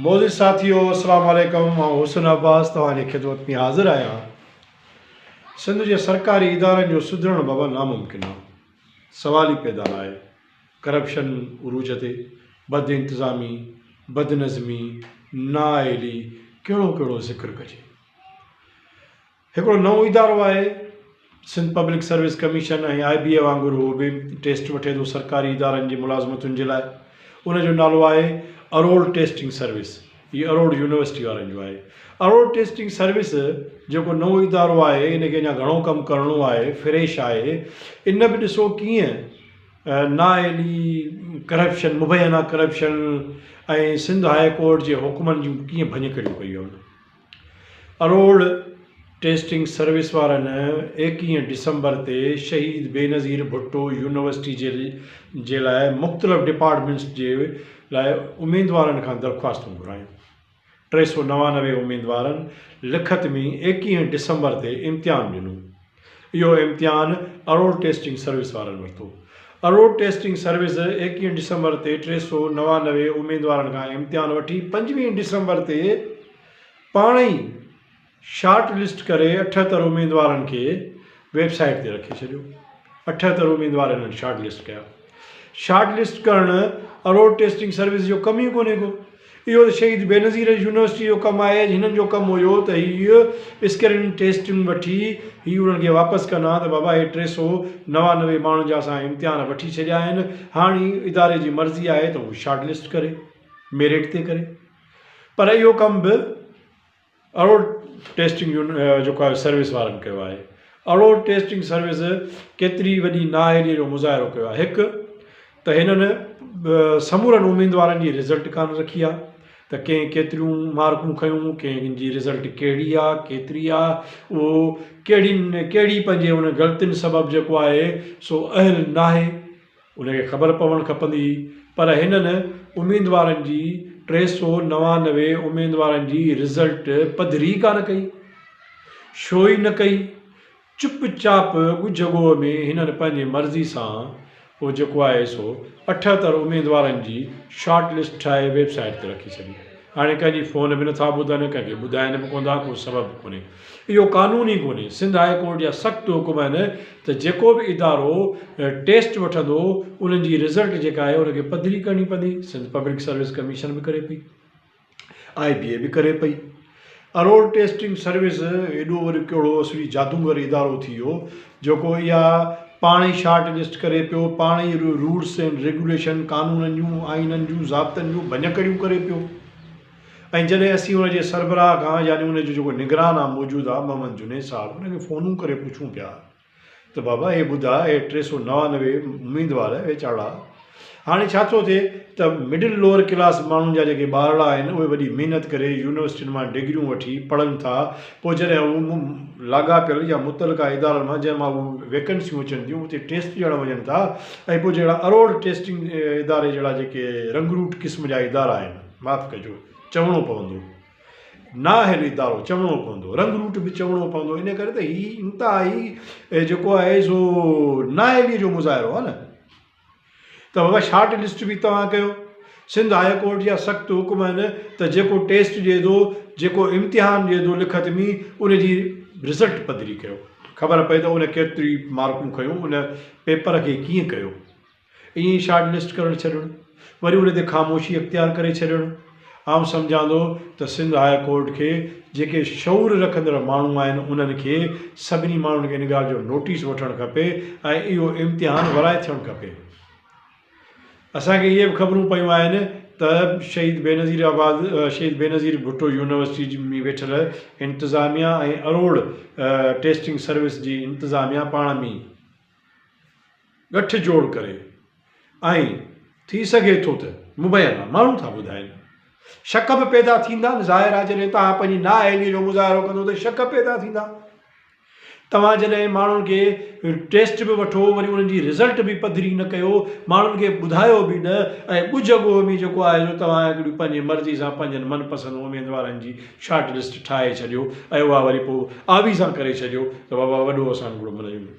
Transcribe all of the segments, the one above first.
معزز ساٿيو السلام عليڪم آئون حسن عباس توهان جي خدمت ۾ حاضر آهيان سنڌ جي سرڪاري ادارن جو سڌرڻ بابت ناممڪن آهي سوال ئي پيدا ناهي ڪرپشن عروج تي بد انتظامي بد نظمي نااهلي ڪهڙو ڪهڙو ذڪر ڪجي هڪڙو نئون ادارو آهي Sindh public service commission ۽ I B A وانگر اهو به ٽيسٽ وٺي ٿو سرڪاري ادارن جي ملازمتن جي لاء ان جو نالو آهي اروڙ ٽيسٽنگ سروس هي اروڙ يونيورسٽي وارن جو آهي اروڙ ٽيسٽنگ سروس جيڪو نئون ادارو آهي ان کي اڃا گهڻو ڪم ڪرڻو آهي فريش آهي ان به ڏسو ڪيئن نااهلي ڪرپشن مبينا ڪرپشن ۽ سنڌ هاء ڪورٽ جي حڪمن جون ڪيئن ڀڃڪڙيون ڪيون اروڙ ٽيسٽنگ سروس وارن ايڪيهه ڊسمبر تي شهيد بينظير ڀٽو يونيورسٽي جي لاء مختلف ڊپارٽمينٽس جي لاء اميدوارن کان درخواستون گهرايون. ٽي سؤ نوانوي اميدوارن لکت ۾ ايڪيهه ڊسمبر تي امتحان ڏنو. اهو امتحان اروڙ ٽيسٽنگ سروس وارن ورتو. اروڙ ٽيسٽنگ سروس ايڪيهن ڊسمبر تي ٽي سؤ نوانوي اميدوارن کان امتحان وٺي پنجويهن ڊسمبر تي پاڻ ئي شارٽ لسٽ ڪري اٺهتر اميدوارن کي ويب سائيٽ تي رکي ڇڏيو. اٺهتر اميدوار هنن شارٽ لسٽ ڪيا. شارٽ لسٽ ڪرڻ ۽ روڊ ٽيسٽنگ سروس جو ڪم ئي ڪونهي ڪو. اهو ته شهيد بينظير يونيورسٽيء جو ڪم آهي. هنن جو ڪم هيو ته هي اسڪريننگ ٽيسٽن وٺي هي انهن کي واپس ڪن ها ته بابا هي ٽي سؤ نوانوي ماڻهن جا اسان امتحان وٺي ڇڏيا آهن، هاڻ هي اداري جي مرضي آهي ته هو شارٽ لسٽ ڪري، ميرٽ تي ڪري. پر اهو ڪم به. اهڙو ٽيسٽنگ يون جيڪو آهي سروس وارن ڪيو آهي اهڙو ٽيسٽنگ سروس ڪيتري وڏي نااهلي جو مظاهرو ڪيو آهي هڪ ته هنن سمورن اميدوارن جي رزلٽ ڪانه رکي آهي ته ڪنهن ڪيتريون مارڪون کنيون ڪنهن جي رزلٽ کهڙي آهي ڪيتري آهي اهو کهڙي کهڙي پنهنجي ان غلطين سبب جيڪو آهي سو اهل ناهي ان کي خبر پوڻ کپندي پر هنن اميدوارن جي ٽي سؤ نوانوي اميدوارن جي رزلٽ پڌري ئي ڪانه ڪئي. شو ئي نه ڪئي. چپ چاپ ڳجهه ڳوء ۾ هنن پنهنجي مرضي سان پوء جيڪو آهي سو اٺهتر اميدوارن جي شارٽ لسٽ ٺاهي ويب سائيٽ تي رکي ڇڏي. هاڻي ڪنهن جي فون به نٿا ٻڌن، ڪنهن کي ٻڌائين به ڪوندا، ڪو سبب به ڪونهي. اهو قانون ئي ڪونهي. سنڌ هاء ڪورٽ جا سخت حڪم آهن ته جيڪو به ادارو ٽيسٽ وٺندو انهن جي رزلٽ جيڪا آهي ان کي پڌري ڪرڻي پوندي. سنڌ پبلڪ سروس ڪميشن به ڪري پئي، آء بي اي به ڪري پئي. ارور ٽيسٽنگ سروس ايڏو وري ڪهڙو اسڙي جادوگر ادارو ٿي ويو جيڪو اها پاڻ ئي شارٽ لسٽ ڪري پيو پاڻ ئي رولس اينڊ ريگوليشن قانونن جون آئينن جون ضابطن جون ڀڃڪڙيون ڪري پيو ۽ جڏهن اسين ان جي سربراهه کان يعني ان جو جيڪو نگران آ موجوده محمد جنيد صاحب ان کي فونون ڪري پڇون پيا ته بابا هي ٻڌاء هي ٽي سؤ نوانوي اميدوار ويچارڙا هاڻي ڇا ٿو ٿئي ته مڊل لوئر ڪلاس ماڻهن جا جيڪي ٻارڙا آهن اهي وڏي محنت ڪري يونيورسٽين مان ڊگريون وٺي پڙهن ٿا پوء جڏهن هو مون لاڳاپيل يا متعلقه ادارن مان جنهن مان اهي ويڪنسيون اچن ٿيون اتي ٽيسٽ ڏيڻ وڃن ٿا ۽ پوء جهڙا اروڙ ٽيسٽنگ اداري جهڙا جيڪي رنگروٽ قسم جا ادارا آهن معاف ڪجو چوڻو پوندو نااهل ادارو چوڻو پوندو، رنگ روٽ به چوڻو پوندو ان ڪري ته هي انتهائي جيڪو آهي سو نااهلي جو مظاهرو آهي نه ته بابا شارٽ لسٽ به توهان ڪيو سنڌ هاء ڪورٽ جا سخت حڪم آهن ته جيڪو ٽيسٽ ڏي ٿو جيڪو امتحان ڏي ٿو لکت ۾ ان جي رزلٽ پڌري ڪيو خبر پئي ته ان ڪيتري مارڪون کنيو ان پيپر کي ڪيئن ڪيو ائين ئي شارٽ لسٽ ڪرڻ ڇڏڻ وري ان تي خاموشي اختيار ڪري ڇڏڻ آئون سمجهان ٿو ته سنڌ هاء ڪورٽ کي جيڪي شعور رکندڙ ماڻهو آهن انهن کي سڀني ماڻهن کي ان ڳالهه جو نوٽيس وٺڻ کپي ۽ اهو امتحان ورائي ٿيڻ کپي اسان کي اهي به خبرون پيون آهن ته شهيد بينظير آباد شهيد بينظير ڀٽو يونيورسٽي جي ۾ ويٺل انتظاميا ۽ اروڙ ٽيسٽنگ سروس جي انتظاميا پاڻ ۾ ڳٺ جوڙ ڪري ۽ ٿي سگهي ٿو ته مبينا ماڻهو ٿا ٻڌائين شڪ به پيدا ٿيندا ظاهر آهي جڏهن توهان پنهنجي نااهلي جو مظاهرو ڪندو ته شڪ پيدا ٿيندا توهان جڏهن ماڻهن کي ٽيسٽ به وٺو وري انهن جي رزلٽ به پڌري نه ڪيو ماڻهن کي ٻڌايو به نه ۽ ڳجهه ڳوهه ۾ جيڪو آهي سو توهان هڪڙي پنهنجي مرضي سان پنهنجن من پسند اميدوارن جي شارٽ لسٽ ٺاهي ڇڏيو ۽ اها وري پوء آويزان ڪري ڇڏيو ته بابا وڏو اسان هڪڙو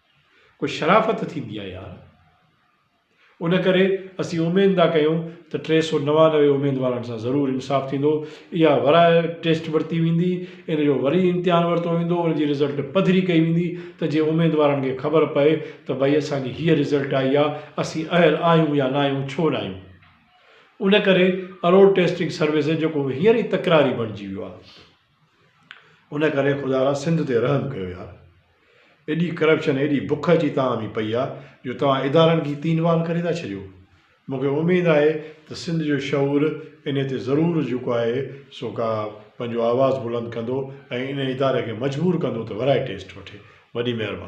ڪو شرافت ٿيندي آ يار. ان ڪري اسين اميد ٿا ڪيون ته ٽي سؤ نوانوي اميدوارن سان ضرور انصاف ٿيندو، اها ورائي ٽيسٽ ورتي ويندي، ان جو وري امتحان ورتو ويندو، ان جي رزلٽ پڌري ڪئي ويندي ته جيئن اميدوارن کي خبر پئي ته ڀئي اسان جي هيء رزلٽ آئي آ، اسين اهل آهيون يا ناهيون، ڇو ناهيون. ان ڪري اروڙ ٽيسٽنگ سروس جيڪو هينئر ئي تڪراري بڻجي ويو آ. ان ڪري خدا را سنڌ تي رحم ڪيو يار ايڏي ڪرپشن ايڏي بک اچي توهان ۾ پئي آ جو توهان ادارن کي تين وال ڪري ٿا ڇڏيو مون کي اميد آهي ته سنڌ جو شعور انهي تي ضرور جيڪو آهي سو ڪا پنهنجو آواز بلند ڪندو ۽ انهي اداري کي مجبور ڪندو ته ورائي ٽيسٽ وٺي وڏي مهرباني.